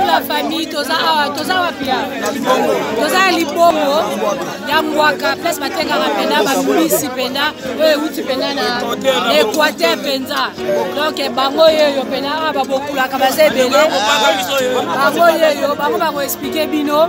la famille toza awa toza wapi ya toza ya libongo ya mbwaka place batengaka mpena bambisi mpena oyo euti mpena na équateur mpenza donc eh, bango yeyo mpena awa babokulaka baza ebele bango yeyo bango bakoexplike bino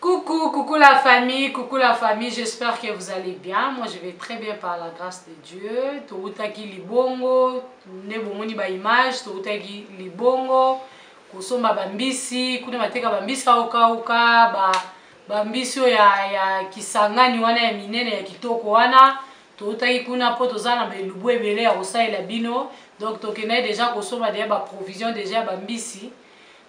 Coucou, coucou la famille, coucou la famille, j'espère que vous allez bien. Moi je vais très bien par la grâce de Dieu. Toutaki libongo, ne bomoni ba image, toutaki libongo, kosomba bambisi, kuna bateka bambisi aokauka, ba bambisi oyo ya, ya kisangani wana ya minene ya kitoko wana toutaki kuna mpo toza na belubu ebele ya kosalela bino donc tokendaki deja kosomba deja baprovision deja ya bambisi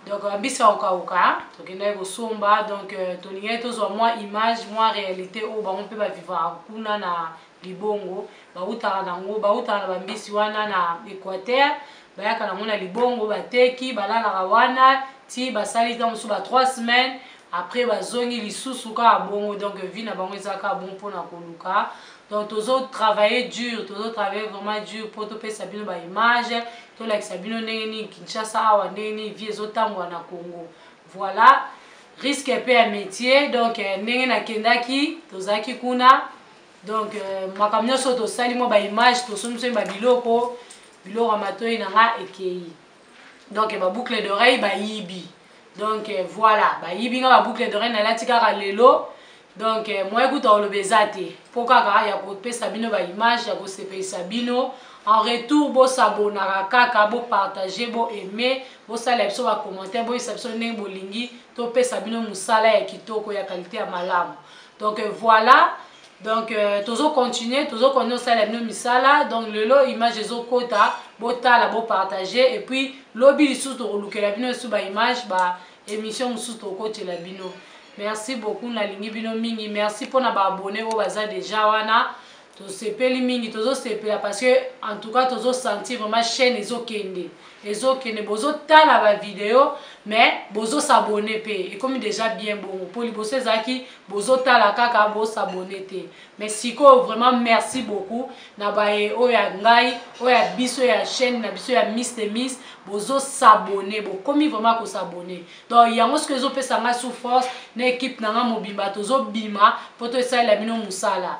donc euh, mbisi akokauka tokendaki kosomba donc euh, tolingaki tozwa mwa image mwa réalité oyo bango mpe bavivaka kuna na libongo bautaka nango bautaka na bambisi wana na équateur bayaka nango na libongo bateki balalaka wana ti basali ntango mosusu ba 3 semaines après bazongi lisusu kaka bongo donc vie na bango eza kaka bongo mpona koluka donc tozo travailler dur tozo travailler vraiment dur mpo topesa bino baimage tolakisa bino ndenge nini kinshasa awa ndenge nini vie ezotambola na congo voilà risque mpe ya métier donc euh, ndenge nakendaki tozalaki kuna donc euh, makambo nyonso tosali mwa baimage tosomisoi babiloko biloko ya matoi na nga ekei donc baboucle d'oreille bayibi donc euh, voilà bayibi nga baboucle d'oreille nalati kaka lelo donc euh, moye kuta oloba eza te mpo kaka ya kopesa bino baimage ya kosepelisa bino en retour bosabonaka kaka bopartage boaime bosalela biso bacommentaire boyisa biso ndenge bolingi topesa bino mosala ya kitoko ya kalite ya malamu donc euh, voilà donc euh, tozo continuer tozo continue osala bino misala donc lelo image ezokota botala bopartage et puis lobi lisusu tokolukela bino esu baimage ba émission mosusu tokokotela bino merci beaucoup nalingi bino mingi merci mpona baabone oyo baza deja wana tosepeli mingi tozosepela parce que en tout cas tozo sentir vraiment chaîne ezokende ezokende bozotala ba video mais bozo s'abonner pe ekomi déjà bien bongo po liboso ezalaki bozotala kaka bo s'abonner te mais sikoyo vraiment merci beaucoup na baye oyo ya ngai oyo ya biso ya chaîne na biso ya miss de miss bozo s'abonner bokomi vraiment ko s'abonner donc yango sikoyo ezopesa ngai sous force na equipe na ngai mobimba tozobima po tosalela bino mosala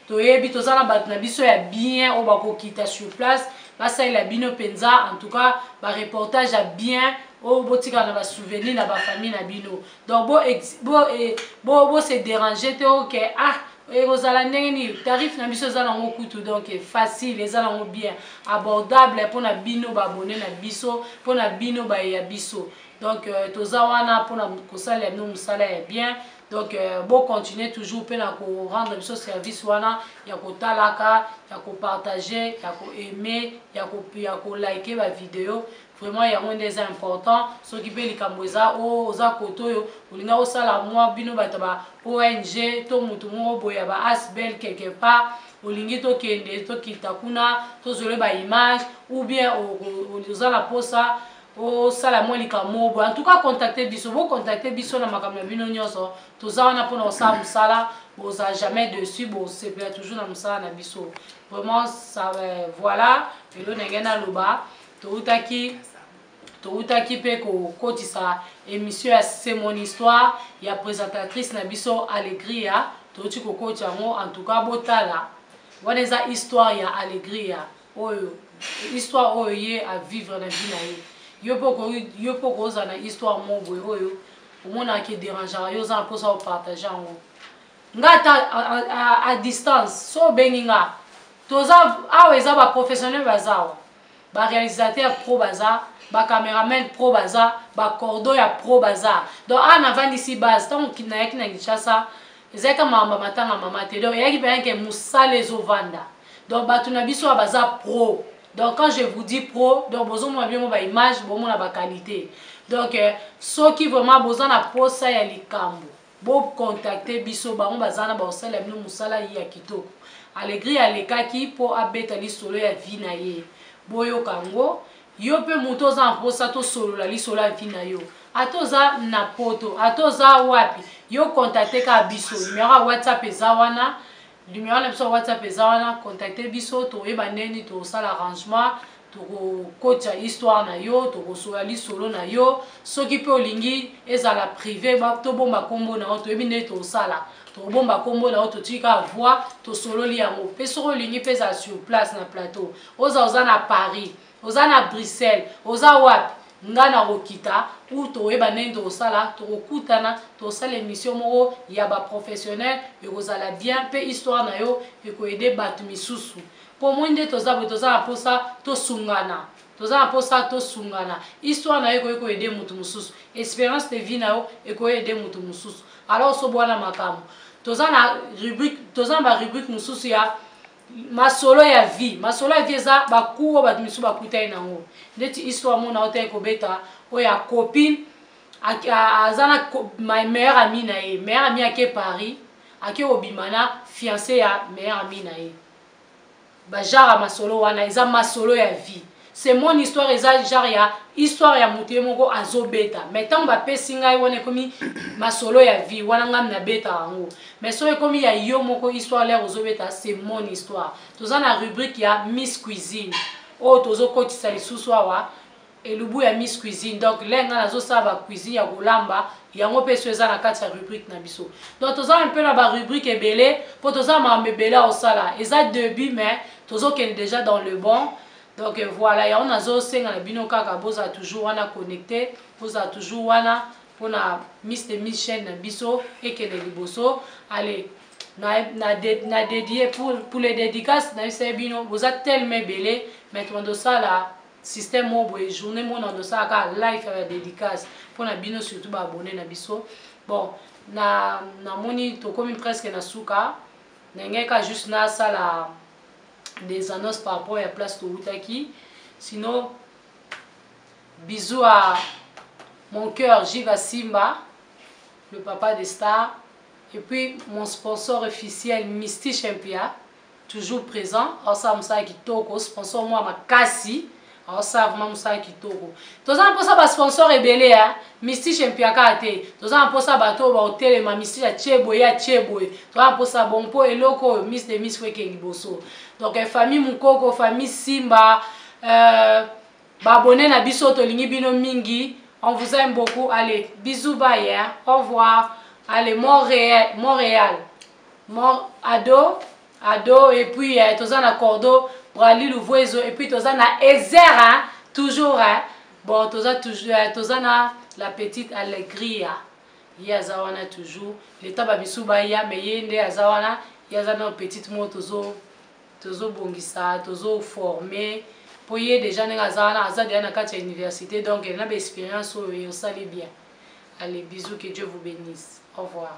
toyebi toza na bato na biso ya bien oyo bakokita sur place basalela bino mpenza en tout cas bareportage ya bien oyo botikala na basouvenir na bafamille na bino donc bose bo, bo, eh, bo, bo dérange te oke okay, ah ekozala ndenge nini tarif na biso eza nango kutu donc facile eza nango bien abordable mpo na bino baabone na biso mpo na bino baye ya biso donc euh, toza wana mpona kosalela bino mosala ya bien donc euh, bo continuer toujours mpe na ko rendre biso service wana ya kotalaka ya kopartage ya koaime ya kolike bavideo vraiment yango nde eza important soki mpe likambo eza oh, oza kote oyo olinga osala mwa bino bato ba ong to motu moko boye ya ba asbel quelque part olingi tokende tokita kuna tozole baimage ou bien oza na mposa osala mwa likambo moko boye antuka contacte biso bocontacte biso na makambo na bino nyonso toza wana mpona kosala mosala boza jamais dessus bosepela toujours na mosala na biso vraiment ça, euh, voilà lelo ndenge naloba toutaki toutaki mpe kokotisa émission ya c'est mon histoire ya présentatrice na biso allegria touti kokotisa yango en tout cas botala wana eza histoire ya allegria oyo histoire oyo ye a vivre na vie na ye yo pe okoki yo pe okozala na histoire moko boye oyo omonaka ke derangaka yo oza na mposa opartage yango nga ata a distance so obengi nga toza awa eza baprofessionnel baza awa barealisateur pro baza bacameraman pro baza bacordo ya pro baza donc awa navandisi base ntango nayaki na kinshasa ezalaki ka makambo ya matanga mama te donc eyaki mpenza ke mosala ezovanda donc bato na biso oyo baza pro donc quand je vous dis pro donc bozomona bino baimage bomona baqualité donc euh, soki vraiment boza na posa ya likambo bocontacte biso bango baza na baosalela bino mosala ye ya kitoko alegri alekaki mpo abeta lisolo ya vi na ye boyoka yango Yo pe mutu oza na posa to solola lisolo ya vie nayo ata oza na poto ata oza wapi yo contacte kaka biso numero ya whatsapp eza wana numero na biso ya whatsapp eza wana contacte biso tokoyeba ndenge nini tokosala arrangement tokokotisa histoire na yo tokosola lisolo na yo soki pe olingi ezala prive tobomba kombo na yo toyebi ndenge tokosala tokobomba kombo na yo totiki kaka voi tosololi yango pe soki olingi pe ezala sur place na plateau oza oza na paris oza na bruxelles oza wapi nga nakokita ou toyeba ndenge tokosala tokokutana tosala émission moko ya baprofessionnel ekozala bien mpe histoire na yo ekoyede bato misusu mpo moi nde toza boye toza na mposa tosungana toza na mposa tosungana histoire na yo ekoki koyede moto mosusu espérance de vie na yo ekoyede moto mosusu alors osobwana makambo toza na rubrique toza na barubrique mosusu ya masolo ya vie masolo ya vie eza baku oyo bato misusu bakutani na yango ndeti histoire mona otaki kobeta oyo ya copine aza na meilleur ami na ye meilleur ami ake paris ake kobima na fiance ya meilleur ami na ye bajara masolo wana eza masolo ya vie c'est mon histoire eza genre ya histoire ya moto ye moko azobeta mais ntango bapesi ngai wana ekomi masolo ya vie wana ngai nabeta yango mais soki ekomi ya yo moko histoire lere ozobeta c'est mon histoire toza na rubrique ya miss cuisine oyo oh, tozokotisa lisusu awa elubu ya miss cuisine donc le ngai nazosala bacuisine ya kolamba yango mpe so eza na kati ya rubrique na biso donc toza mpe na barubrique ebele mpo toza makambo ebele akosala eza debut mais tozokende déjà dans le bon donc voilà yango nazosenga na bino kaka bozala toujours wana connecte bozala toujours wana mpona miss de miss chaine na biso ekende liboso ale na, na, de, na dedie pour, pour les dédicaces nayebisaki bino boza telema ebele maintenant tosala système moko boye journée moko na tosala kaka live ya badédicace mpo na bino surtout baabone na biso bon namoni na tokomi presque na suka na ngai ka juste nasala des annonces par rapport ya place towutaki sinon bisous à mon cœur jiva simba le papa des stars et puis mon sponsor officiel misty champia toujours présent aosala mosala kitoko sponsor mwa makasi Osa vraiment mosala kitoko. Toza na mposa ba sponsor ebele ya Mystique mpiaka te. Toza na mposa bato oyo baotelema Mystique atie boye atie boye. Toza na mposa bongo mpo eloko oyo Miss de Miss weke liboso. Donc eh, famille Mukoko, famille Simba, euh, babone na biso tolingi bino mingi. On vous aime beaucoup. Allez, bisous bye. Hein? Au revoir. Allez, Montréal, Montréal. Mont Ado Ado et puis eh, toza na cordo Brali Luvuezo et puis toza na Ezer hein, toujours hein. Bon toza toujours eh, toza na la petite Allegria. Ye aza wana toujours le temps ba misu ba ya mais ye nde aza wana, ye aza na petite mo tozo tozo bongisa, tozo former po ye déjà ndenge aza wana aza déjà na kati ya université donc na ba expérience oyo osali bien. Allez bisous que Dieu vous bénisse. Au revoir.